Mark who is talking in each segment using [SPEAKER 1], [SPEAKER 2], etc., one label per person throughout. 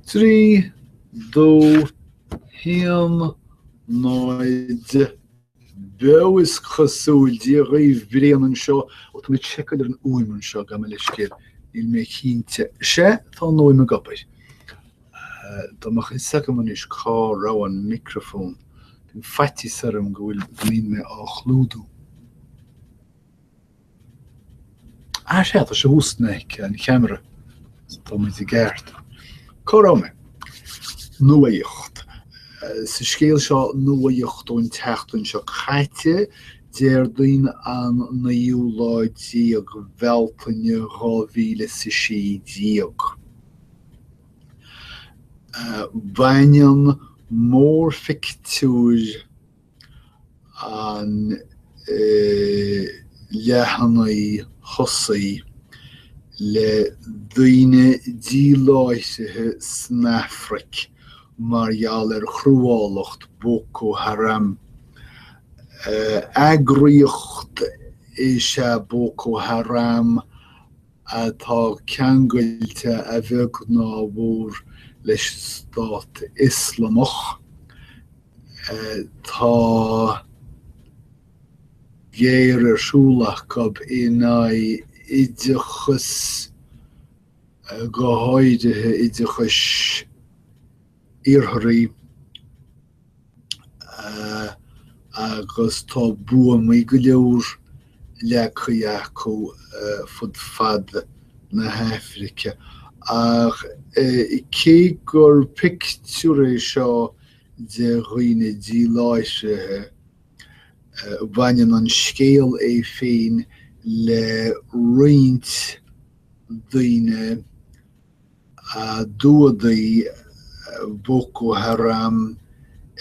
[SPEAKER 1] 3, 2, 1, 0, Beo, is cosúil, Dia dhaoibh Brian anseo, ó tá mé ag seiceáil ar an fhuaim anseo gabh mo leithscéal, níl mé cinnte, sea, tá an fhuaim ag obair, dá mbeadh fhios agam anois cá raibh an micreafón, bíonn faitíos orm go bhfuil, go mbíonn mé á chlúdú. Ó sea, tá sé thuas in aice an cheamara tá mé i gceart. Cá raibh mé? Nuaíocht. Sa scéal seo, nuaíocht ón tseachtain seo caite, Déardaoin an 19ú lá Bealtaine 2016. Baineann mórphictiúr. an leathanaigh thosaigh, le daoine díláithrithe san Afraic mar gheall ar chruálacht Boko Haram. Eagraíocht is ea Boko Haram atá ceangailte a bheag nó a mhór leis an Stát Ioslamach. Tá géar ar siúl acu in aghaidh oideachas, go háirithe oideachais, iartharaigh agus tá buamaí go leor leagtha acu fud fad na hAifrice. Ach cé gur pictiúr é seo de dhaoine díláithrithe, baineann an scéal é féin le roinnt daoine, a d'fhuadaigh Boko Haram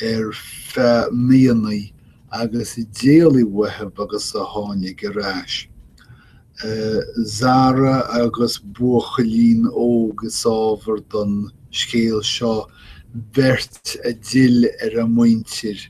[SPEAKER 1] ar feadh míonna agus a d'éalaigh uathu agus a tháinig ar ais. Zara agus buachaillín óg is ábhar don scéal seo, beirt a d'fhill ar a muintir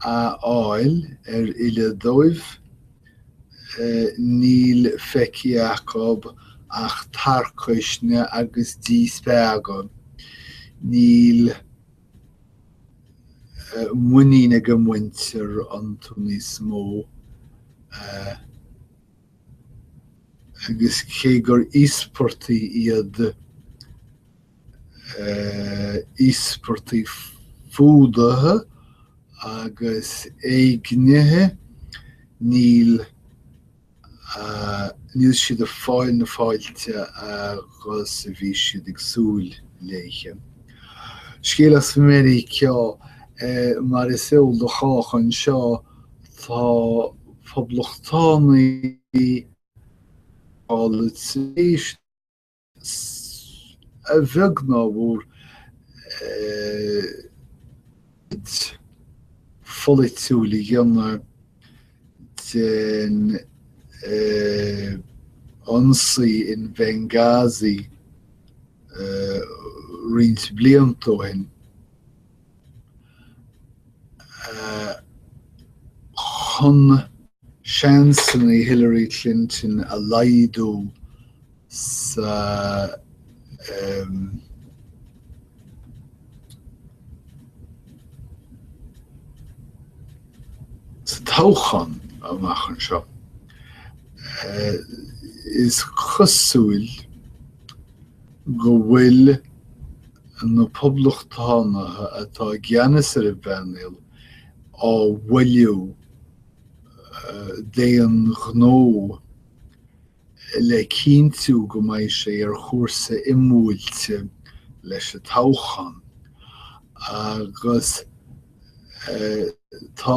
[SPEAKER 1] áfach ar fhilleadh dóibh, níl faighte acu ach tarcaisne agus díspeagadh, níl muinín ag a muintir iontu níos mó, agus cé gur íospartaigh iad, íospartaigh fuadaithe agus éignithe, níl siad ag fáil na fáilte agus a bhí siad ag súil léi. Scéal as Meiriceá, mar is eol do chách anseo, tá poblachtánaigh á lorg tar éis a bheag ná a mhór, íde pholaitiúil a dhéanamh den ionsaí in Benghazi roinnt blianta ó shin. chun seansanna Hillary Clinton a laghdú sa toghchán amach anseo, is cosúil. go bhfuil na poblachtánaithe atá i gceannas ar an bpainéal á mhoilliú d'aon ghnó le cinntiú go mbeidh sé ar chúrsa imbuailte leis an toghchán agus, Tá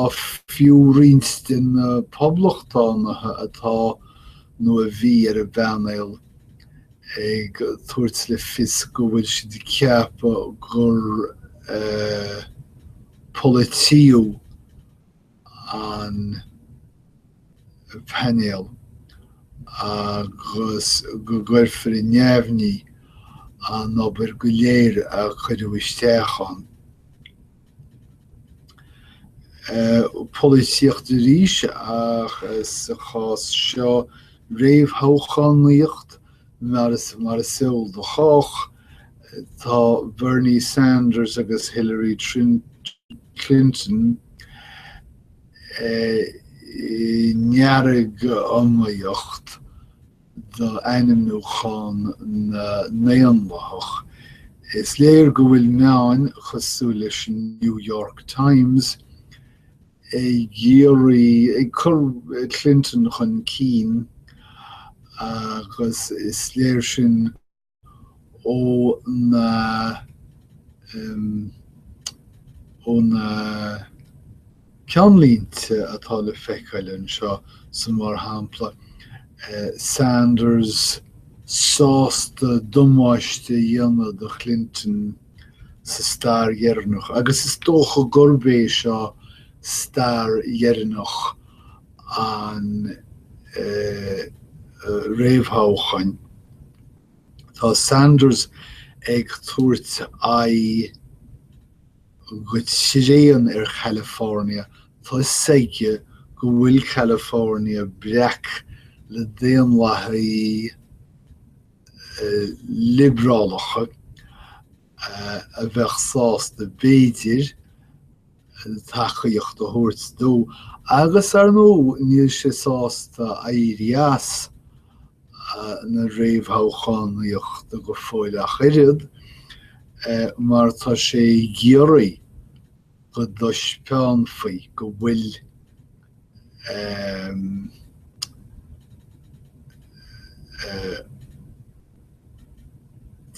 [SPEAKER 1] fiú roinnt de na poblachtánaithe atá, nó a bhí, ar an bpainéal ag tabhairt le fios go bhfuil siad ag ceapadh gur polaítíodh an. painéal agus go gcuirfear i neamhní an obair go léir a cuireadh isteach ann. Polaitíocht arís, ach sa chás seo réamhthoghchánaíocht, mar is eol do chách, tá Bernie Sanders agus Hillary Clinton, ndearg-iomaíocht do ainmniúchán na nDaonlathach, is léir go bhfuil meáin cosúil leis an New York Times ag, ag cur Clinton chun cinn agus is léir sin ó na ó na ceannlínte atá le feiceáil anseo san mar shampla Sanders sásta damáiste a dhéanamh do Clinton sa stáir dheireanach agus is dócha gurb é seo stáir dheireanach an réamhthoghcháin, tá Sanders ag tabhairt aghaidh go tréan ar California tá a fhios aige go bhfuil California breac le Daonlathaigh liobrálacha a bheadh sásta b'fhéidir tacaíocht a thabhairt dó agus, ar ndóigh, níl sé sásta éirí as na réamhthoghchánaíochta go fóill ach oiread mar tá sé ag iarraidh go dtaispeánfaí go bhfuil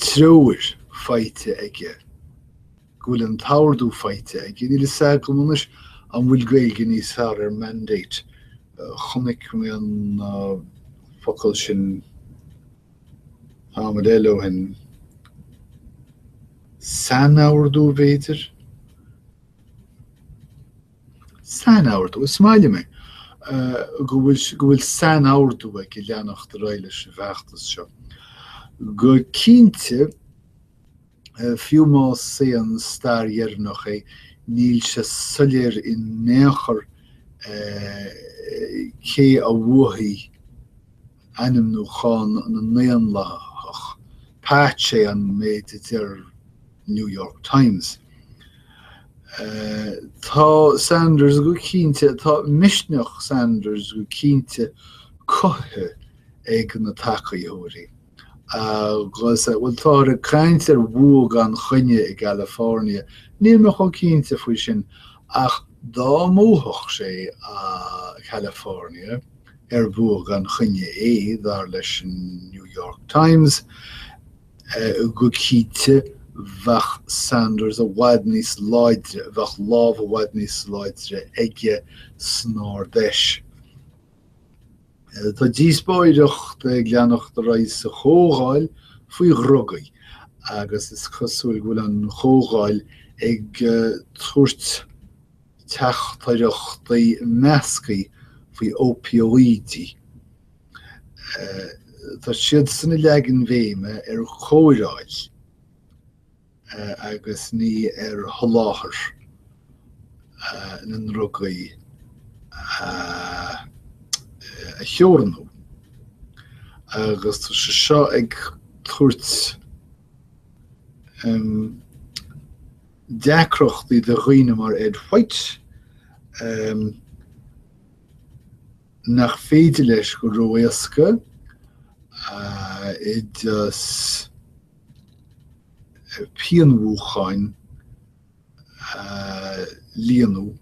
[SPEAKER 1] treoir faighte aige, go bhfuil an t-ordú faighte aige. Níl a fhios agam anois an bhfuil Gaeilge níos fearr ar mandate. Chonaic mé an focal sin. tamall ó shin. Sainordú, b'fhéidir? Sainordú? Is maith liom é go bhfuil sainordú aige leanacht ar aghaidh leis an bhfeachtas seo. Go cinnte, fiú más é an stáir dheireanach é, níl sé soiléir in aon chor cé a bhuafaidh ainmniúchán na nDaonlathach But is é an méid a deir New York Times. Tá Sanders go cinnte, tá misneach Sanders go cinnte cothaithe ag na tacaítheoirí agus, bhuel, táthar ag caint ar bhua gan choinne i California, níl mé chomh cinnte faoi sin ach dá mbuafadh sé California, ar bhua gan choinne é, dar leis an New York Times, go cinnte bheadh Sanders i bhfad níos láidre, bheadh lámh i bhfad níos láidre aige san Ard-Fheis. Tá díospóireacht ag leanacht ar aghaidh sa Chomhdháil faoi dhrugaí agus is cosúil go bhfuil an Chomhdháil ag tabhairt, teachtaireachtaí measctha faoi opióidí. Tá siadsan a leagann an bhéim ar chóireáil agus ní ar sholáthar na ndrugaí a theorannú agus tá sé seo ag tabhairt deacrachtaí do dhaoine mar Ed White nach féidir leis go ró-éasca oideas pianmhúcháin a líonadh.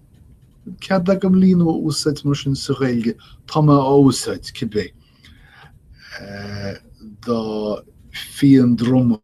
[SPEAKER 1] Cead agam líonadh a úsáid mar sin sa Ghaeilge, tá mé á úsáid cibé. Dá phian droma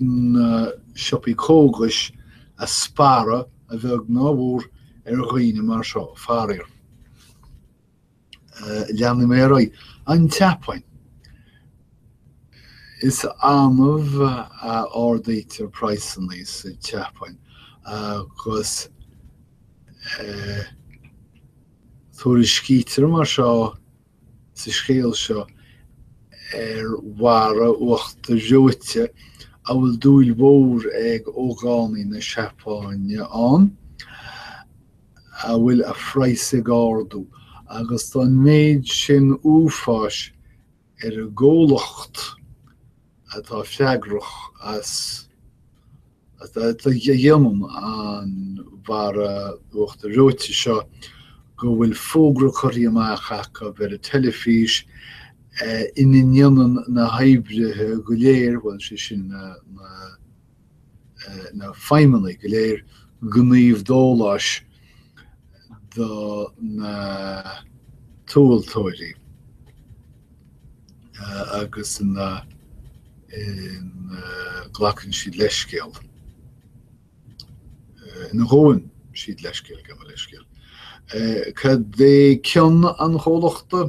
[SPEAKER 1] na siopaí cógais a sparradh a bheag ná a mhór ar dhaoine mar seo, faraor. Leanfaidh mé ar aghaidh. An tSeapáin. Is annamh a ardaítear praghsanna sa tSeapáin agus tuairiscítear mar seo sa scéal seo ar bharra uachtair reoite a bhfuil dúil mhór ag ógánaigh na Seapáine ann, a bhfuil a phraghas ag ardú, agus tá an méid sin uafáis ar an gcomhlacht, atá freagrach as déanamh an bharra uachtair reoite seo go bhfuil fógra curtha amach acu ar an teilifís ina ndéanann na hoibrithe go léir, bhuel, sé sin na. na feidhmeannaigh go léir gníomh dóláis do na tomhaltóirí agus ina nglacann siad leithscéal ina ngabhann siad leithscéal gabh mo leithscéal. Cad é ceann an chomhlachta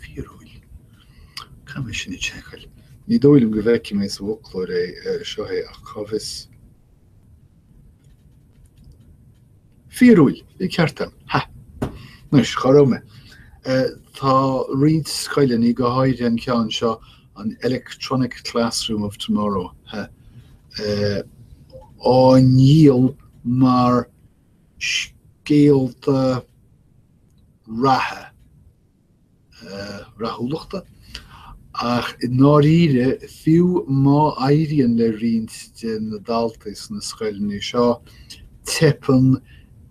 [SPEAKER 1] fíorúil. Caithfidh mé sin a sheiceáil. Ní dóigh liom go bhfeicfidh mé sa bhfoclóir é, seo é, ach cá bhfios? Fíorúil, bhí ceart agam. Ha! Anois, cá raibh mé? Tá roinnt scoileanna, go háirithe an ceann seo, an Electronic Classroom of Tomorrow, á ndíol mar scéalta ratha, rathúlachta, ach i ndáiríre, fiú má éiríonn le roinnt de na daltaí sna scoileanna seo, teipeann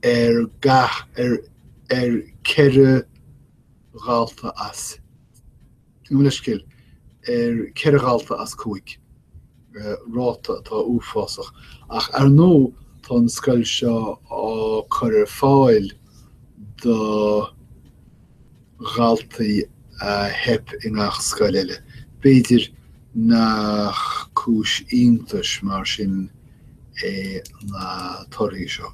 [SPEAKER 1] ar gach ar 4 dhalta as Mo leithscéal, ar ceithre dhalta as cúig, ráta atá uafásach, ach ar ndóigh tá an scoil seo á cur ar fáil do dhaltaí a theip i ngach scoil eile. B'fhéidir nach cúis iontais mar sin é na torthaí seo.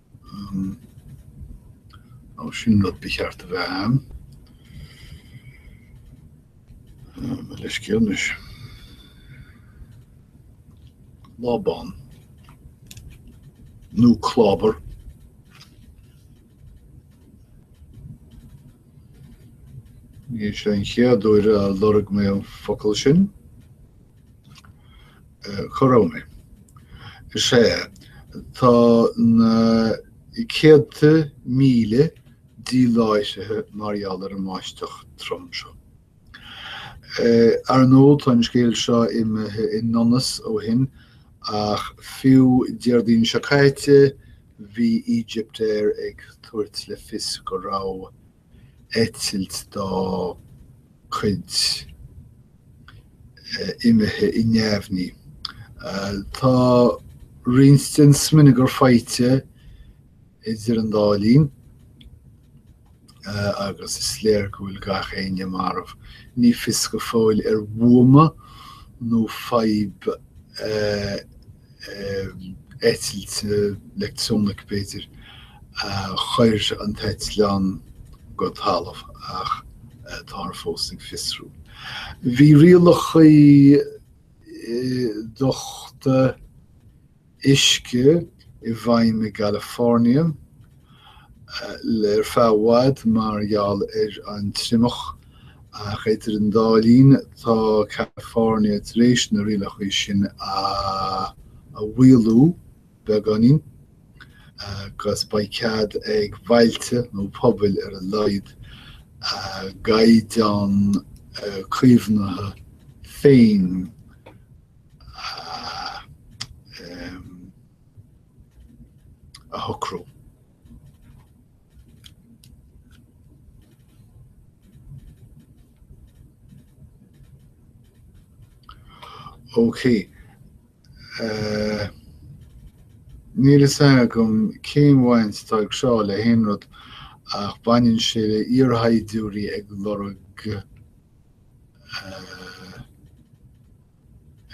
[SPEAKER 1] Ó, sin rud ba cheart a bheith ann. Mo leithscéal anois. Lábán. Nó clábar. Ní sé an chéad uair a lorg mé an focal sin. Chuardaigh mé. Sea, tá na céadta míle díláithrithe mar gheall ar an mbáisteach trom seo. Ar ndóigh, tá an scéal seo imithe i ndonas ó shin, ach fiú Déardaoin seo caite, bhí Egyptair ag tabhairt le fios go raibh. eitilt dá cuid imithe i neamhní. Tá roinnt den smionagar faighte idir an dá linn agus is léir go bhfuil gach éinne marbh. Ní fios go fóill ar bhuama nó fadhb eitilte, leictreonach b'fhéidir, chuir an t-eitleán go talamh ach táthar fós ag fiosrú. Bhí rialacha dochta uisce i bhfeidhm i gCalifornia. le ar feadh i bhfad mar gheall ar an triomach, ach idir an dá linn tá California tar éis na rialacha sin a mhaolú beagáinín agus beidh cead ag bhailte nó pobail ar a laghad a gcaighdeán caomhnaithe féin a a shocrú. Ok. Níl fhios agam cén bhaint atá aige seo le haon rud ach baineann sé le iarshaighdiúirí ag lorg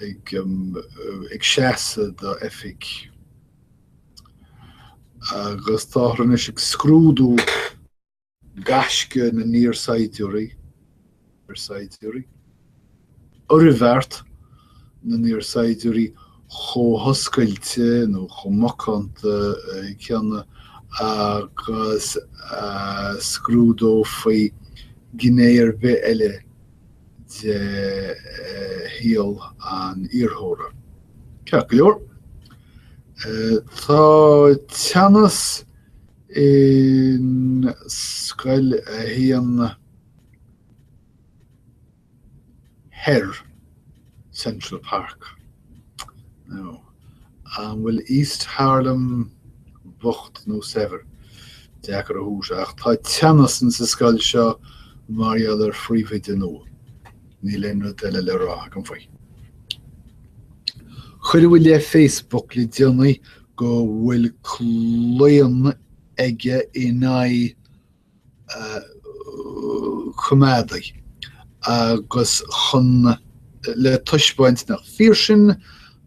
[SPEAKER 1] ag seasamh do oifig agus táthar anois ag scrúdú gaisce na n-iar-saighdiúirí, iar-saighdiúirí, oirbheart na n-iar-saighdiúirí chomh hoscailte nó chomh macánta céanna agus a scrúdófaí gné ar bith eile de shaol an iarrthóra. Ceart go leor, tá teannas in Scoil a hAon Thoir, Central Park. nó An bhfuil East Harlem bocht nó saibhir? Deacair a fhios ach tá teannas ins an scoil seo mar gheall ar phríomhoide nua. Níl aon rud eile le rá agam faoi. Cuireadh i leith Facebook le déanaí go bhfuil claonadh aige in aghaidh coimeádaigh agus chun le taispeáint nach fíor sin,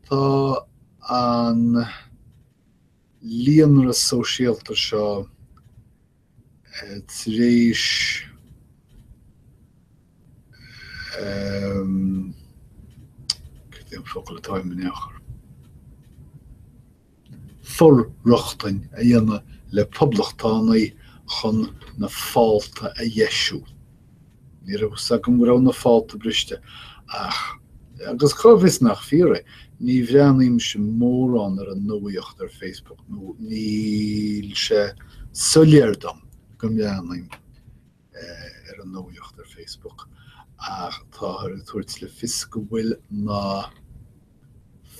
[SPEAKER 1] tá an líonra sóisialta seo tar éis cad é an focal atá i m'fhoclóir? for-rochtain a dhéanamh le poblachtánaigh chun na fálta a dheisiú. Ní raibh fhios agam go raibh na fálta briste, ach, agus cá bhfios nach fíor é, ní bhreathnaímse mórán ar an nuaíocht ar Facebook nó níl sé soiléir dom go mbreathnaím. ar an nuaíocht ar Facebook ach táthar ag tabhairt le fios go bhfuil na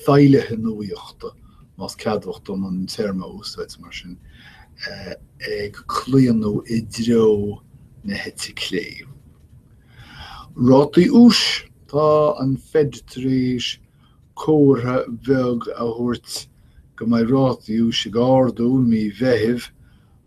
[SPEAKER 1] feighlithe nuaíochta, más ceadmhach dom an téarma a úsáid mar sin, ag claonadh i dtreo na heite clé. Rátaí úis Tá an Fed tar éis comhartha beag a thabhairt go mbeidh rátaí úis ag ardú i mí Mheithimh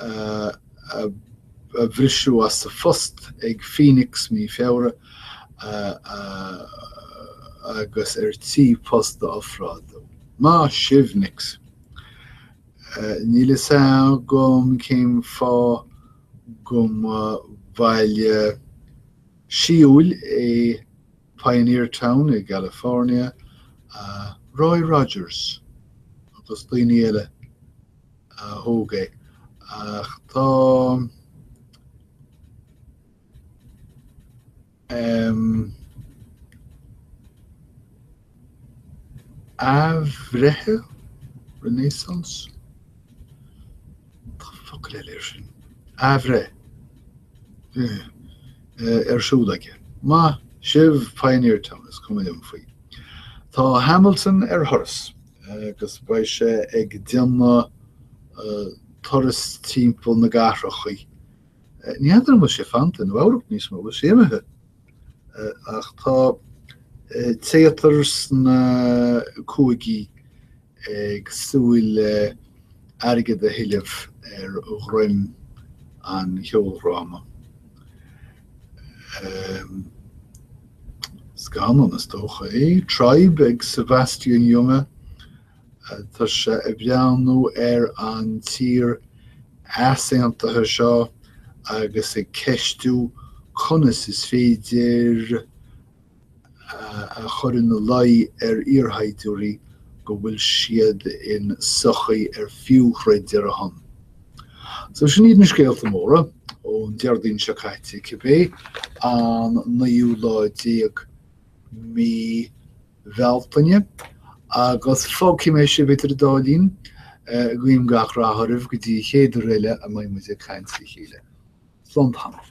[SPEAKER 1] a bhriseadh as a phost ag Phoenix mí Feabhra agus ar tí post a ofráil dó. Maith sibh, Nix! Níl fhios agam cén fáth go mba bhaile sí-úil é Pioneer Town i gCalifornia, Roy Rogers agus daoine eile a thóg é, ach tá athbhreith, renaissance? Tá focal eile air sin, athbhreith, ar siúl aige. Maith sibh, Pioneer Town, is cuma liom faoi. Tá Hamilton ar thuras agus beidh sé ag déanamh turas timpeall na gcathrachaí. Ní fheadar an bhfuil sé fanta in Nua Eabhrac níos mó, bhfuil sé imithe? Ach tá téatar sna cúigí ag súil le hairgead a thuilleamh ar dhroim an cheoldhráma. Scannán, is dócha, é Tribe ag Sebastian Junger, tá sé ag breathnú ar an tír easaontaithe seo agus ag ceistiú conas is féidir a chur ina luí ar iarshaighdiúirí go bhfuil siad in sochaí ar fiú troid ar a shon. So sin iad na scéalta móra ón Déardaoin seo caite, cibé an naoú lá déag mí Bealtaine, agus fágfaidh mé sibh idir an dá linn, guím gach rath oraibh go dtí chéad uair eile a mbeidh muid ag caint le chéile. Slán tamall.